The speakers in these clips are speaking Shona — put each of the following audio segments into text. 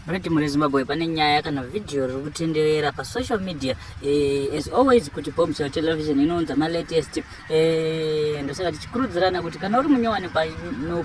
Right mune Zimbabwe pane nyaya kana video riri kutenderera pasocial media eh, as always kuti Bombshell Television inounza malatest eh, ndosaka tichikurudzirana kuti kana uri munyowani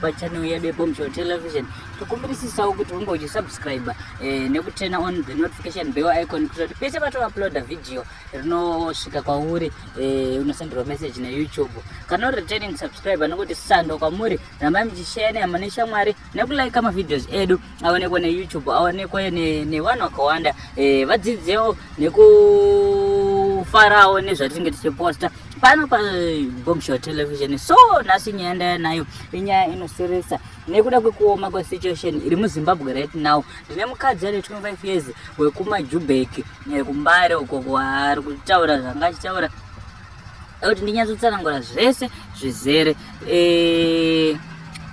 pachannel yedu yeBombshell Television tokumbirisisawo kuti unge uchisubscribe eh, nekutena on the notification bell icon kuti pese patouploada video rinosvika kwauri eh, unosenderwa message neyoutube kana uri returning subscriber nokutisandoka kwamuri rambai muchishaya nehama neshamwari nekulaika mavideos edu aonekwe neyoutube aonekwe nevanhu vakawanda eh, vadzidzewo nekufarawo nezvatinenge tichiposta pano pabombshel television so nhasi nyaya ndaya nayo inyaya inoseresa nekuda kwekuoma kwesituation iri muzimbabwe right now ndine mukadzi ane 25 years wekumajubek eh, kumbare uko kwaari kutaura zvanga achitaura kuti ndinyatsotsanangura zvese zvizere Eh,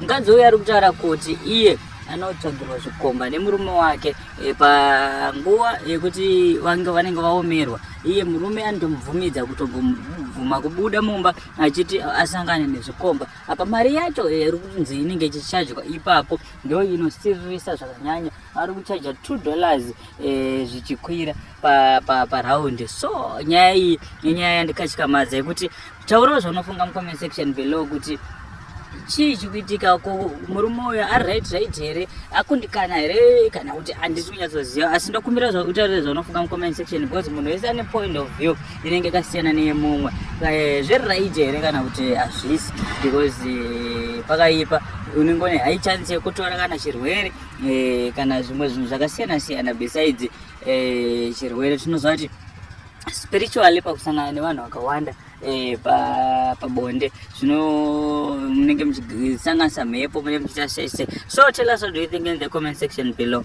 mukadzi uyu ari kutaura kuti iye anotsvagirwa zvikomba nemurume wake eh, panguva yekuti vange vanenge vaomerwa iye murume anotomubvumidza kutobvuma kubuda mumba achiti asangane nezvikomba apa mari yacho eh, iri kunzi inenge ichichajwa ipapo ndo inosiririsa zvakanyanya ari kuchaja two dollars zvichikwira paraundi so nyaya iyi inyaya yandikatyamadza yekuti taurawo zvaunofunga mucomment section below kuti chii chikuitika ko murume uyo ari right right here akundikana here kana kuti handisi kunyatsoziva asi ndokumbira utaurire zvaunofunga mucomment section because munhu wese ane point of view inenge yakasiyana neyemumwe eh, zviri right here kana kuti hazvisi because eh, pakaipa unenge une high chance yekutora kana chirwere eh, kana zvimwe zvinhu zvakasiyana siyana besides chirwere tinozvati spiritually pakusangana nevanhu vakawanda eh, pabonde pa zvino munenge muchisanganisa mhepo munenge muchiita sese so tell us what do you think in the comment section below